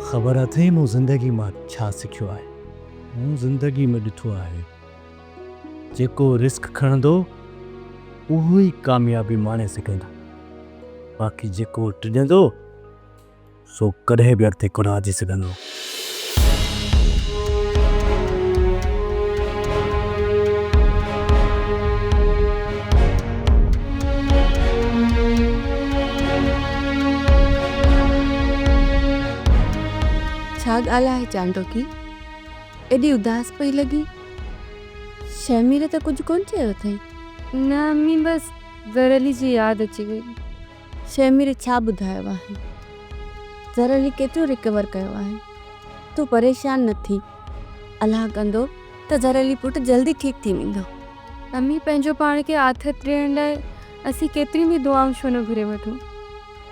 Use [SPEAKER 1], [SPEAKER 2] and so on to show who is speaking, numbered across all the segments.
[SPEAKER 1] خبر اٿئي مون زندگي مان ڇا سکيو آهي. مون زندگي ۾ ڏٺو آهي جيڪو رسڪ کڻندو اهو ئي ڪاميابي ماڻي سگهندو باقي جيڪو ڊڄندو سو ڪڏهن به اڳتي ڪونه وڌي سگهندو.
[SPEAKER 2] ڇا ڳالهه آهي چانڊوڪي؟ ايڏي اداس پئي لڳين؟ شهمير ته ڪجهه ڪونه چيو اٿئي؟ نه امي
[SPEAKER 3] بس گهر علي جي ياد اچي وئي. شيميري
[SPEAKER 2] ڇا ٻڌايو آهي. زرل هي ڪيترو ريڪور ڪيو آهي. تون پريشان نه ٿي. الله ڪندو ته زرل هي پٽ جلدي ٺيڪ ٿي ويندو. امي پنهنجو
[SPEAKER 3] پاڻ کي آٿت ڏيڻ لاء اسين ڪيتريون به دعائون ڇو نه گهري وٺون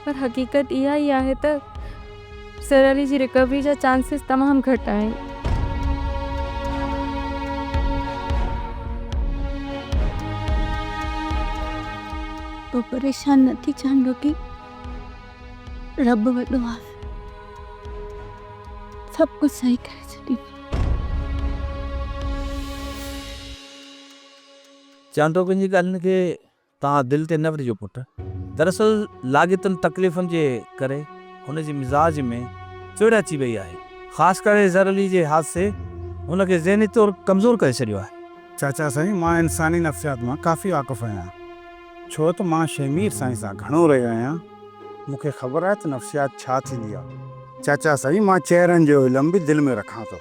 [SPEAKER 3] پر حقيقت اها ئي آهي ته. سر علي جي رڪوري جا چانسز تمام گهٽ آهن.
[SPEAKER 2] تون پريشان نه ٿي جان ٻوٽي. رب وڏو آهي. سڀ ڪجهه صحيح ڪري ڇڏيندو.
[SPEAKER 4] چانڊوڪن جي ڳالهين کي توهان دل تي نه ورجهو پٽ. دراصل لاڳيتن تڪليفن جي ڪري هن جي مزاج ۾ چڙ اچي وئي آهي. خاص ڪري اظهر علي جي حادثي هن کي ذهني طور ڪمزور ڪري ڇڏيو آهي. چاچا سائين مان
[SPEAKER 5] انساني نفسيات مان ڪافي واقف آهيان ڇو ته مان شهمير سائين سان گهڻو رهيو آهيان. مون کي خبر آهي ته نفسيات ڇا ٿيندي آهي. چاچا سائين مان چهرن جو علم به دل ۾ رکان ٿو.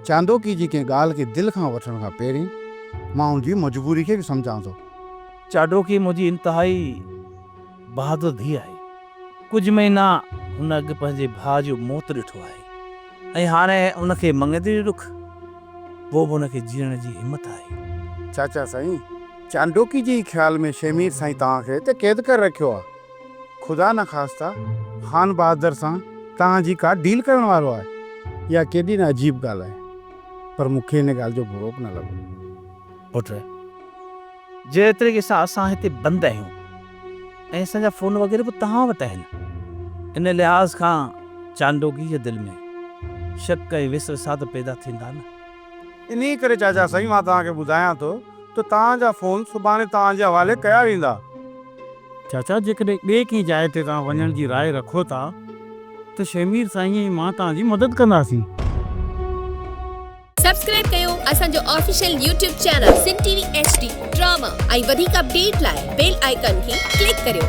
[SPEAKER 5] چاندوڪي جي ڪنهن ڳالهه کي دل کان وٺڻ کان پهرين ماڻهن جي مجبوري کي به سمجهان ٿو. چاڊوڪي
[SPEAKER 4] منهنجي انتهائي بهادر ڌيء آهي. ڪجهه مهينا هن اڳ پنهنجي ڀاء جو موت ڏٺو آهي ۽ هاڻي هن کي مڱيندڙي ڏک، پوء به هن کي جيئڻ جي همت آهي. چاچا سائين
[SPEAKER 5] چانڊوڪي جي خيال ۾ شيمير سائين توهان کي اتي قيد ڪري رکيو آهي. خدا نخواسته خان بهادر سان توهان جي ڪا ڊيل ڪرڻ وارو آهي. اها ڪيڏي نه عجيب ڳالهه آهي. پر مون کي ان ڳالهه جو برو به نه لڳو. پٽ!
[SPEAKER 4] جهڙي طريقي سان اسان هتي بند آهيون ۽ اسان جا فون وغيره به توهان وٽ آهن، ان لحاظ کان چانڊوڪي جي دل ۾ شڪ ۽ وسوسات پيدا ٿيندا نه. انهيء ڪري
[SPEAKER 5] چاچا سائين مان توهان کي ٻڌايان ٿو ته توهان جا فون سڀاڻي توهان جي حوالي ڪيا ويندا. چاچا جيڪڏهن ٻئي ڪنهن جاء تي توهان وڃڻ جي راء رکو ٿا ته شهمير سائين ۽ مان توهان جي مدد ڪنداسين.
[SPEAKER 6] سبسڪرائب ڪيو اسان جو official YouTube channel Sindh T V H D drama ۽ وڌيڪ اپڊيٽ لاء بيل آئيڪان کي ڪلڪ ڪريو.